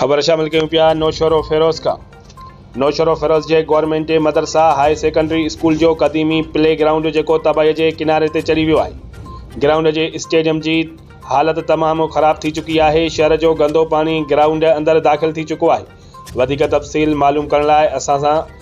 خبر شامل ڪيون پيا نوشهرو فيروز کان نوشهرو فيروز جي گورنمينٽ مدرسه هاء سيڪنڊري اسڪول جو قديمي پلي گرائونڊ جيڪو تباهي جي ڪناري تي چڙهي ويو آهي گرائونڊ جي اسٽيڊيم جي حالت تمام خراب ٿي چڪي آهي شهر جو گندو پاڻي گرائونڊ اندر داخل ٿي چڪو آهي وڌيڪ تفصيل معلوم ڪرڻ لاء اسان سان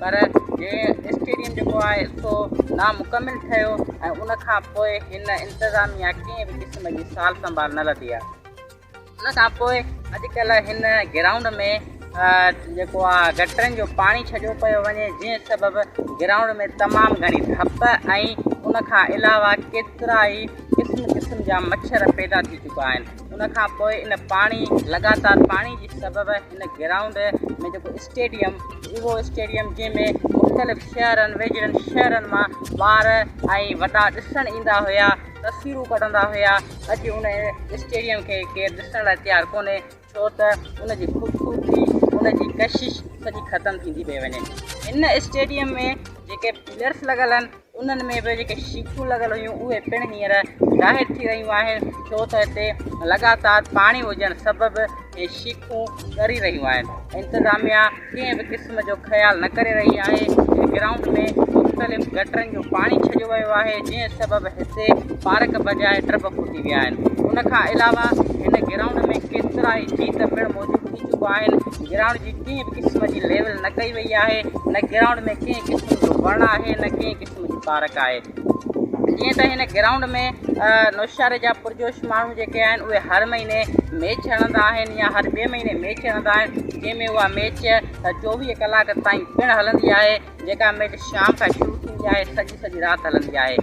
پر هي اسٽيڊيم جيڪو آهي سو نامڪمل ٺهيو ۽ ان کان پوء هن انتظاميا ڪنهن به قسم جي سال سنڀال نه لڌي آهي ان کان پوء اڄ ڪلهه هن گرائونڊ ۾ جيڪو آهي گٽرن جو پاڻي ڇڏيو پيو وڃي جنهن سبب گرائونڊ ۾ تمام گهڻي ڌپ ۽ ان کان علاوه ڪيترا ئي قسم قسم جا مڇر پيدا ٿي چڪا آهن ان کان پوء ان پاڻي لڳاتار پاڻي جي سبب هن گرائونڊ ۾ جيڪو اسٽيڊيم اهو اسٽيڊيم جنهن ۾ مختلف شهرن ويجهڙن شهرن مان ٻار ۽ وڏا ڏسڻ ايندا هيا تصويرون ڪڍندا هيا اڄ ان اسٽيڊيم کي ڪير ڏسڻ لاء تيار ڪونهي ڇو ته ان جي خوبصورتي ان جي ڪشش سڄي ختم ٿيندي پئي وڃي ان اسٽيڊيم ۾ جيڪي پليئرس لڳل آهن انهن ۾ به جيڪي شيخون لڳل هيون اهي پڻ هينئر ظاهر ٿي رهيون آهن ڇو ته هتي لڳاتار پاڻي هجڻ سبب هي شيخون ڳري رهيون آهن انتظاميا ڪنهن به قسم جو خيال نه ڪري رهي آهي هن گرائونڊ ۾ مختلف گٽرن جو پاڻي ڇڏيو ويو آهي جنهن سبب هتي پارڪ بجاء ٽب ڦٽي ويا آهن ان کان علاوه هن گرائونڊ ۾ ڪيترائي جيت پڻ موجود ٿي چڪا آهن گرائونڊ جي ڪنهن به قسم جي ليول نه ڪئي وئي آهي نه گرائونڊ ۾ ڪنهن قسم جو وڻ آهي نه ڪنهن قسم جي پارڪ آهي جيئن ته هن گرائونڊ ۾ نوشهري جا پرجوش ماڻهو جيڪي آهن اهي هر مهيني ميچ هڻندا آهن يا هر ٻئي مهيني ميچ هڻندا آهن جنهن ۾ اها ميچ چوويهه ڪلاڪ تائين پڻ هلندي آهي جيڪا ميچ شام کان شروع ٿيندي آهي سڄي سڄي رات هلندي آهي